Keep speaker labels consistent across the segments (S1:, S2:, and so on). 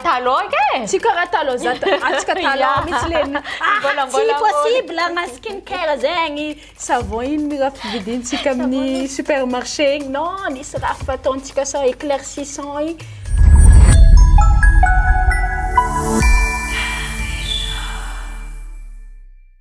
S1: Talon ka e! Tsy karaha talon za
S2: atsika talon mitsy leny. Ah, tsy possible agna skin care zegny. Savon ino mi raha fividintsika amin'ny supermarché igny? Non, nisy raha fataontsika sao éclaircissant igny.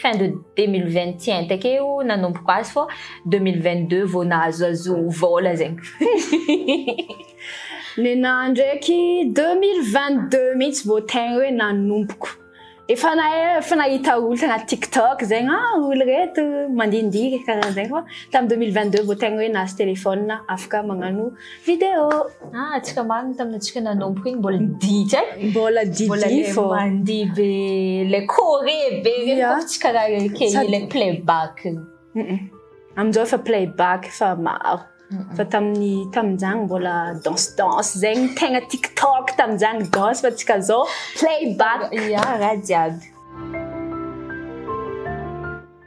S1: fin de 2021 takeo nanomboko azy fô 2022 vao nahazoazo vôla zegny
S2: nenahy ndraiky 2022 mihitsy vao tegna hoe nanomboko efa na efa nahita olo tagnaty tiktok zegny ah olo reto mandindihy karaha zegny fô tamy 2022 vao tegna hoe nahazo téléphone afaka magnano Vidéo! Ah, antsika
S1: marina tamin'ny antsika nanomboka iny mbola didy eh? Mbola didy Mbola
S2: le fô. mandihy be,
S1: le kore be reny Yeah. fa tsy karaha le kely Sady- le playback. Mm-mm.
S2: Amin'izao efa playback efa maro. Fa tamin'ny tamin'izany mbola danse danse zegny tegna TikTok tamin'izany danse fa antsika zao playback. Yeah, raha
S1: jiaby.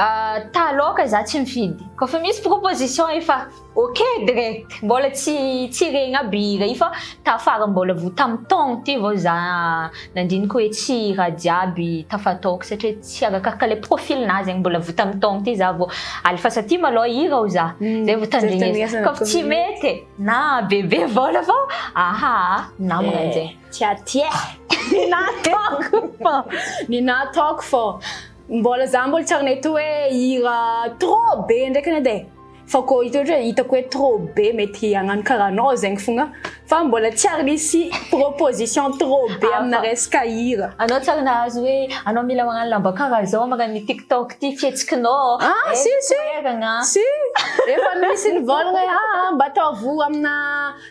S1: Ah, ta loka za tsy mifidy. Ko fa misy proposition efa ok direct. Mbola tsy tsy regny aby hira io fa tafara mbola vo tam taogno ty vao za nandiniko hoe tsy hira jiaby tafataoko satria tsy arakaraka le profil nazy zegny mbola vo tam taogno ty za vo alefasa ty malô hira o za hmm, zay vo tandrignesa. Ko fa tsy mety na bebe vôla fa aha namagna eh. zegny. Tsy aty eh!
S2: Ny nataoko fô! Ny nataoko fô! Mbola za mbola tsy ary nahita hoe hira trop be ndraiky anie edy e! Fa koa hita ohatra hoe hitako hoe trop be mety hagnano karaha anao zegny fogna fa mbola tsy ary nisy proposition trop be amina resaka hira. Anao tsy ary nahazo hoe
S1: anao mila magnano lamba karaha zao magnano ny tiktok ty fihetsikinao ô! Ah eh, si si! Toeragna!
S2: Si! Efa misy nivôlagna hoe aa mba ataovy amina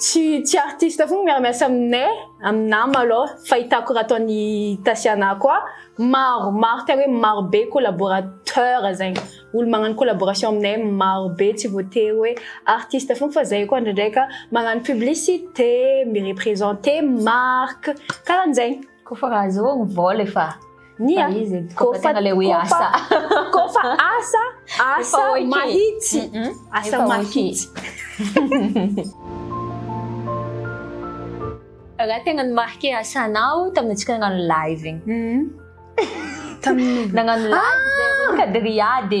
S2: Tsy tsy artiste fona miara-miasa aminay, amin'ny nama aloha fahitako raha ataon'i Tasiana koa maro maro tena hoe maro be collaborateur zegny, olo magnano collaboration aminay maro be tsy voatery hoe artiste fona fa zay koa ndraindraika magnano publicité, mi-representer marque, karahan'zegny. Kofa raha zao
S1: ny vol efa ny a izy
S2: kofa tena le hoe asa kofa asa asa mahitsy asa mahitsy
S1: raha tena ny marqué asanao tamin'ny antsika nagnano live igny mm-hmm. tamin'ny nagnano live ah! kadria de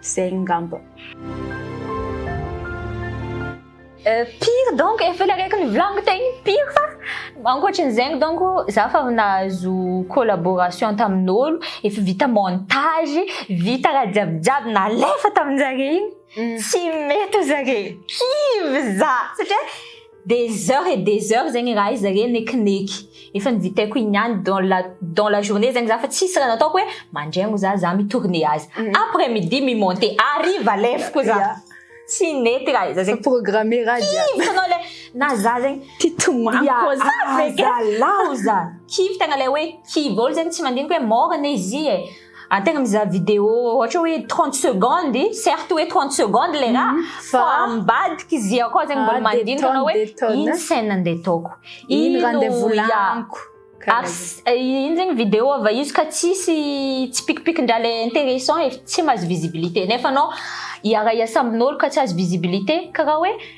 S2: Zay ngamba.
S1: pire donc efa ilay araiky ny vlog tegny pire fa ankoatry ny zegny donc za fa nahazo collaboration tamin'olo efa vita montage vita raha jiaby jiaby nalefa tamin-jare igny tsy mety zare kivy za satria Des heures et des heures zegny raha izy re nekineky efa nivitaiko igny ihany dans la dans la journée zegny za fa tsisy raha nataoko hoe mandraigny za za mi-tourner azy mm. après midi mi-monter hariva lefoko za yeah. tsy nety raha izy zegny programme raha jiaby
S2: tanao le
S1: na za zegny ty tomako za
S2: ah, fekalaoza
S1: kivy tegna le hoe kivy olo zegny tsy mandiniky hoe morana izy e Antegna mizaha vidéo ohatra hoe 30 secondes, certes hoe 30 secondes le raha fa ambadika izy i akao zegny mbôla mandinika anao hoe ino scène andeha ataoko, ino raha andeha
S2: volaniko,
S1: ino zegny vidéo avy eo izy ka tsisy tsipikipiki-ndraha le intéressant e, tsy mahazo visibilité nefa anao hiara-hiasa amin'ôlo ka tsy azo visibilité karaha hoe.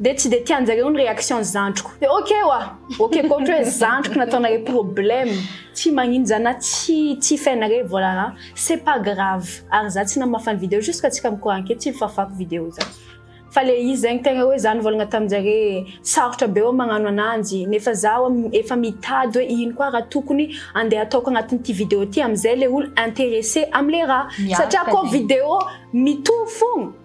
S2: Dia tsy dia tianjareo ny réaction zandriko dia ok oa ok koa ohatra hoe zandriko nataonareo problème tsy maninja na tsy tsy fenareo volana c'est pas grave ary za tsy namafany video jusque tsika mikoranke tsy fafako video za fa le izy zegny tegna hoe za nivolagna taminjare sarotra be oa magnano ananjy nefa za oa efa mitady hoe ino koa raha tokony andeha ataoko agnatin'ity video ty amizay le olo intéressé amle raha satria koa video mitovy fogna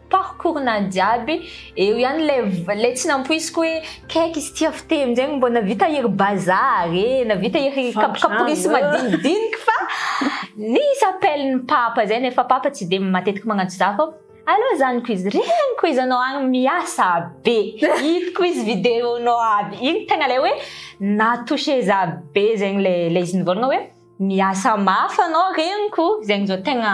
S1: parcours nany jiaby eo ihany le le tsy nampoisiko hoe kaiky izy tia fiteny zegny mbô navita iry bazar e navita iry kapokaporisy madinidiniky fa nisy appel ny papa zay nefa papa tsy de matetiky magnantso za fô allo zanako izy regniko izy anao agny miasa be hitako izy video nao aby igny tegna le hoe na touché za be zegny le le izy nivôlagna hoe miasa mafy anao regniko zegny zao tegna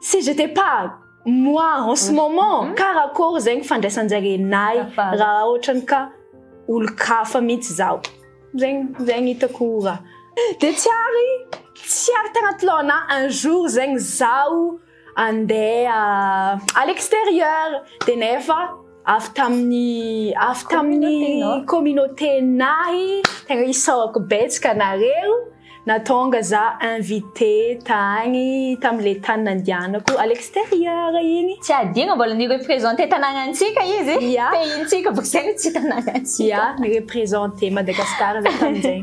S2: si j'étais pas moi en ce moment mm-hmm. karakory zegny fandraisanjarenay raha ohatrany ka olon-kafa mihitsy zaho zegny zegny hitako raha de tsy ary tsy ary tagnaty laona un jour zegny zaho andeha euh, à l'extérieur de nefa avy tamin'ny avy tamin'ny communauté-nahy tegna isaorako betsaka anareo natonga za invité tagny tam'le tany nandianako à l'extérieur igny tsy adino mbola
S1: ni-representer tanagnantsika izy yeah. pays-ntsika vao zay no tsy tanagnantsika yeah, ni-representer
S2: Madagascar za tamin'izay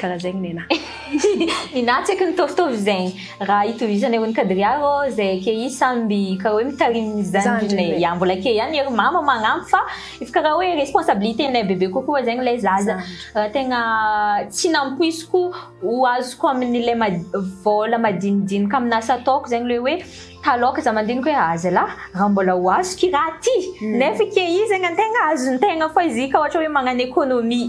S2: karaha zegny nena ninah
S1: tsy aiko nitôvitôvy zegny raha hitovizana ery nikadria rô zay ake izy samby karaha hoe mitarimy ny zandrinay ya mbola ake ihany ery mama magnampy fa efa karaha hoe responsabilité-nay bebe kokoa zegny lay zaza raha tegna tsy nampoiziko ho azoko amin'ilay mad- vôla madinidinika amin'ny asa ataoko zegny le hoe taloha za mandiniky hoe ah zalah raha mbola ho azoko i raha ty nefa ake izy zegny antegna azontegna fa izy ka ohatra hoe magnano économie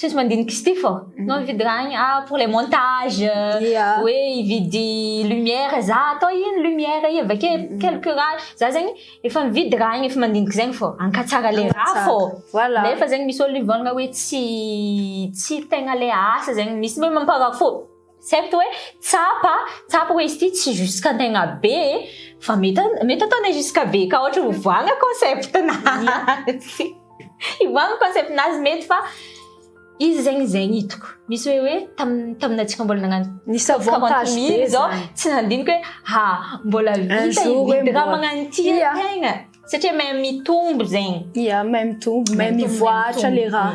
S1: tsy misy mandinika ity fô mhm. no mividy raha igny ah pour les montages hoe hividy lumière za atao ino lumière i avy ake mhm. quelque raha za zegny efa mividy raha igny efa mandinika zegny fô ankatsara le raha fô voilà nefa zegny misy olo hivolagna hoe tsy tsy tegna le asa zegny misy hoe mamparafo Certes hoe tsapa, tsapa hoe izy ity tsy jusqu'antegna be e, fa mety mety ataonay jusqu'à be ka ohatra hivoagna concept-nazy. Hivoagna concept-nazy mety fa izy zegny izay ny hitako. Misy hoe hoe tam taminay tsika mbola nagnano Nisy avantage
S2: be zany. Zao tsy nandinika
S1: hoe ha mbola vita hividy raha magnano ity tegna satria mahay mitombo zegny. Ia, mahay mitombo,
S2: mahay mivoahatra le raha.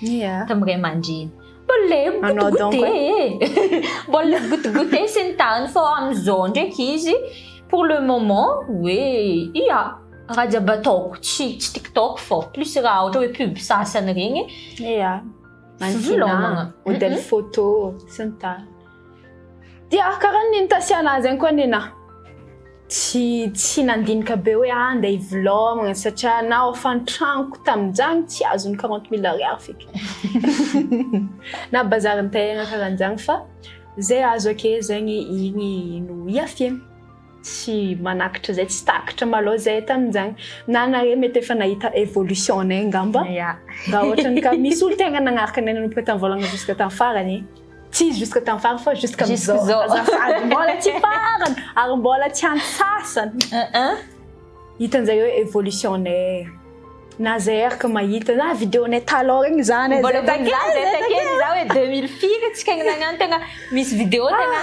S1: Yeah. Tamin'ny ray aman-dreny. Mbola Anao goûte donc, goûte e. Mbola goûte goûte sy ny tariny fa amin'izao ndraiky izy pour le moment hoe ia raha jiaby ataoko tsy tsy TikTok fao plus raha ohatra hoe pub sasany regny Yeah. Fivelomagna.
S2: Manodidina modèle photo sy ny tariny. Dia karaha ny nitasiana azy ihany koa anie na. Tsy tsy nandinika be hoe ah ndeha hivilaomana satria naho efa ny tranoko tamin'izany tsy azo ny 40 mille ariary fika. Na bazary nitahina karaha an'izany fa izay azo akehazany iny no iafina. tsy manakitra izay tsy takitra malao izay tamin'izany na anareo mety efa nahita évolution anay angamba raha ohatra ny ka misy olo tegna nagnaraka anay nanomboka tamin'ny voalangana jusqu'à tamin'ny farany tsy jusqu'à tamin'ny farany fa jusqu'à amizao azafady mbola tsy farany ary mbola tsy antsasany hitan'izay hoe évolution anay na zay araka mahita na vidéo anay talon regny zany mbola takely zay
S1: takely za hoe 2000 firy tsy kegny nagnano tegna misy vidéo tegna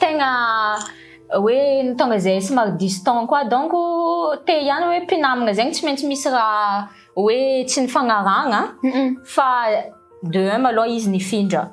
S1: tegna hoe ny tonga izay somary distant koa donc te ihany hoe mpinamagna zegny tsy maintsy misy raha hoe tsy nifagnarahagna fa de un malôha izy nifindra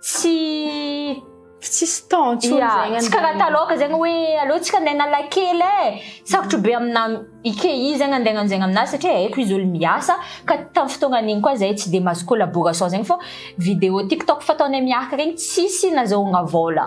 S1: tsy
S2: tsisy temps tsy yeah, tsy karaha taloha zegny
S1: hoe aleo tsika andeha analakely e sarotro be amina IKEA zegny andeha ananjegna aminazy satria haiko izy olo miasa ka tamin'ny fotoagna an'igny koa zahay tsy dia mahazo collaboration zegny fô vidéo tiktok fataonay miaraka regny tsisy nazahoagna vôla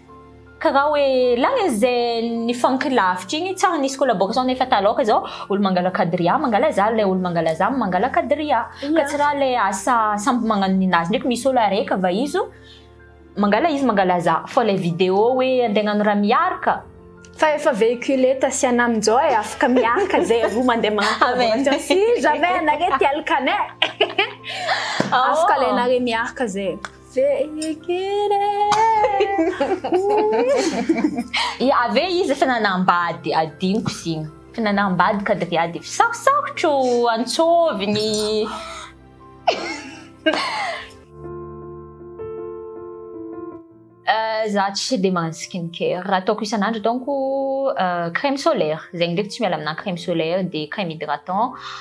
S1: Karaha hoe lany izay nifanky lavitra igny tsary nisy collaboration nefa taloka zao olo mangala kadria mangala za lay olo mangala za mangala kadria ka tsy raha lay asa samby magnano ninazy ndraiky misy olo araiky va izy mangala izy mangala za fa lay video hoe andeha agnano raha miary ka fa
S2: efa véhiculé tasiana amin'izao e afaka miaraka zay roa mandeha magnano collaboration si jamais anareo te alokane afaka alainareo miaraka zay
S1: Ave izy efa nanambady adino kozina efa nanambady kadria dia efa sarosarotro antsôviny za tsy dia magnano skin care raha ataoko isan'andro donc crème solaire zegny ndraiky tsy miala amina crème solaire dia crème hydratant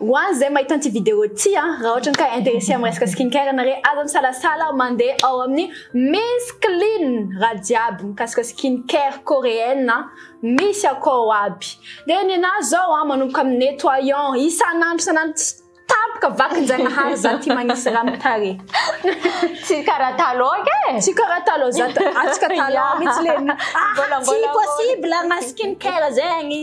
S2: Ho an izay mahita an'ity vidéo ity a, raha ohatrany ka intéressé amin'ny resaka skin care ianare, aza misalasala mandeha ao amin'ny Miss Clean raha jiaby mikasika skin care coréenne a, misy akao aby. Dia ny anah izao a, manomboka amin'ny nettoyant isan'andro isan'andro tsy tapaka vakinjanahary za tia magnisy raha amin'ny tarehy. Tsy
S1: karaha taloha anga e! Tsy karaha taloha
S2: za, atsika taloha mihitsy lé, ah tsy possible agna skin care zegny.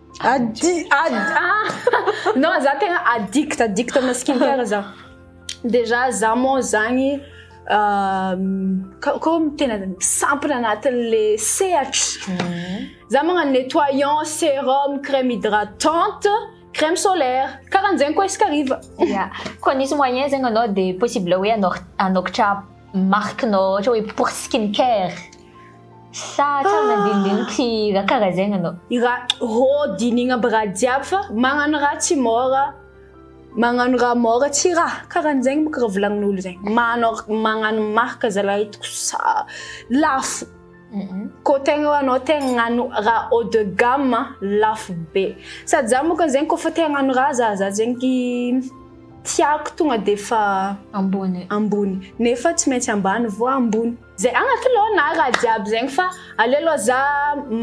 S2: Adi, adi, ah! Non, za tegna addict, addict amina skincare za. Déjà za moa zagny ah, ka- comme tena sampona anatin'le sehatry. Za magnano nettoyant, sérum, crème hydratante, crème solaire. Karahan'zegny koa isaka hariva. Ya. Koa nisy
S1: moyen zegny anao dia possible hoe hanao- hanokatra marque-nao ohatra hoe pour skincare. Sa hatrany ah! andinindiniko sy raha karaha zay nanao. Ira rô
S2: dinigna aby raha jiaby fa magnano raha tsy môra magnano raha môra tsy raha karahan'izegny bôka raha volagnin'olo zay manao magnano marque zalahy hitako sa lafo kô tegna hoe anao tegna agnano raha haut de gamme lafo be sady za môka zegny kôfa te hagnano raha za za zegny ty tiako tonga de fa ambony ambony nefa tsy maintsy ambany vao ambony Zay agnaty laona raha jiaby zegny fa aleo aloha za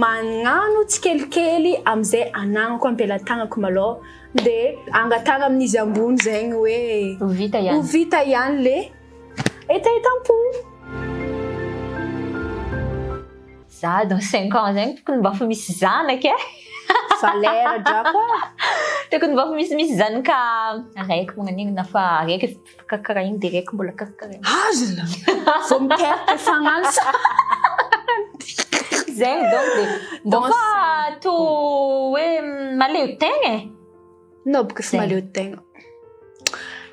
S2: magnano tsikelikely amizay anagnako ampelatagnako malôha de angatahagna amin'izy ambony zegny hoe Ho vita ihany. ho vita
S1: ihany le
S2: hetahetam-po.
S1: Za dans cinq ans zegny tokony mba fa misy zanaka e! Valera
S2: drako a! Tokony mba
S1: fa misimisy zanaka araiky magnan'igny na fa araiky. Karakarain direct mbola karakarain. Azla!
S2: Vao miteraka fagnansa.
S1: Zay donc dia donc fa to hoe maleo tegna e. No boka
S2: sy maleo tegna.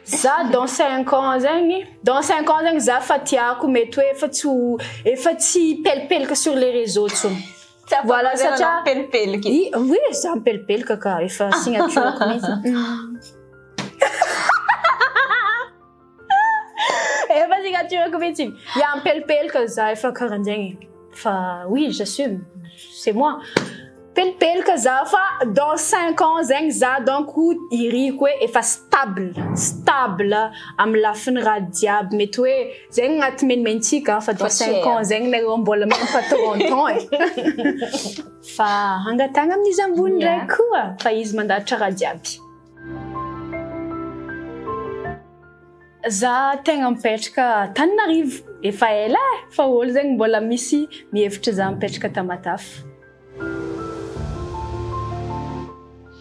S2: Za dans 5 ans zegny, dans 5 ans zegny za fa tiako mety hoe efa tsy ho efa tsy pelipelika sur les réseaux tsony. Voilà, satria pelipelika. I oui,
S1: za
S2: mipelipelika ka efa signature mihitsy. Efa signature mihitsy. Ya mipelipelika za efa karanjegny. Fa oui, j'assume. C'est moi. Pelipelika za fa dans 5 ans zegny za donc iriko hoe efa stable, stable am lafiny raha jiaby mety hoe Zegny agnaty menomentsika fa dans cinq ans zegny nareo mbola même pas trente ans e. Fa hangatahagna amin'izy ambony ndray koa fa izy mandahatra raha jiaby. Za tegna mipetraka Antananarivo efa ela e, fa olo zegny mbola misy mihevitra za mipetraka Tamatave.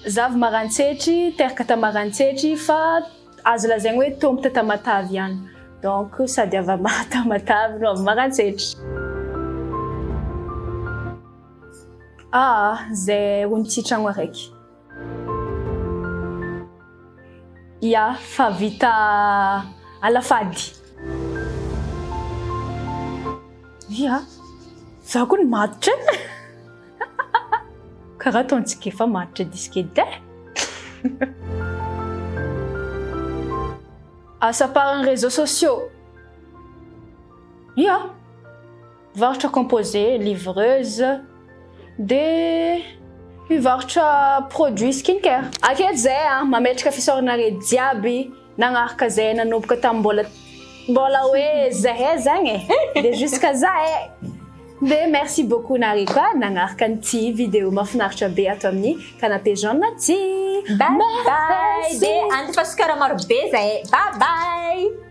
S2: Za avy Maroantsetry, teraka ta Maroantsetry fa. Azo lazaina hoe Tompo teta Matavy ihany. Donc sady avy Maha Tamatavy no avy Maroantsetra. Aa zay ony tsy tragno araiky. Ya fa vita ala fady. Ia, za koa ny matotra e. Karaha ataontsika efa maharitra disque edy Asa par ny réseaux sociaux. Ia, mivarotra composé, livreuse, dia mivarotra produits skincare. Akia zay a, mametraka fisaorana re jiaby. Nagnaraka zay nanomboka tam mbola mbola hoe zahay zagny e, de jusqu'à za e. De merci beaucoup nareo koa nagnaraka an'ity vidéo mafinaritra be ato amin'ny canapé jaune ty.
S1: Bye bye, de andefa sukara maro be
S2: zahay e.
S1: Bye bye.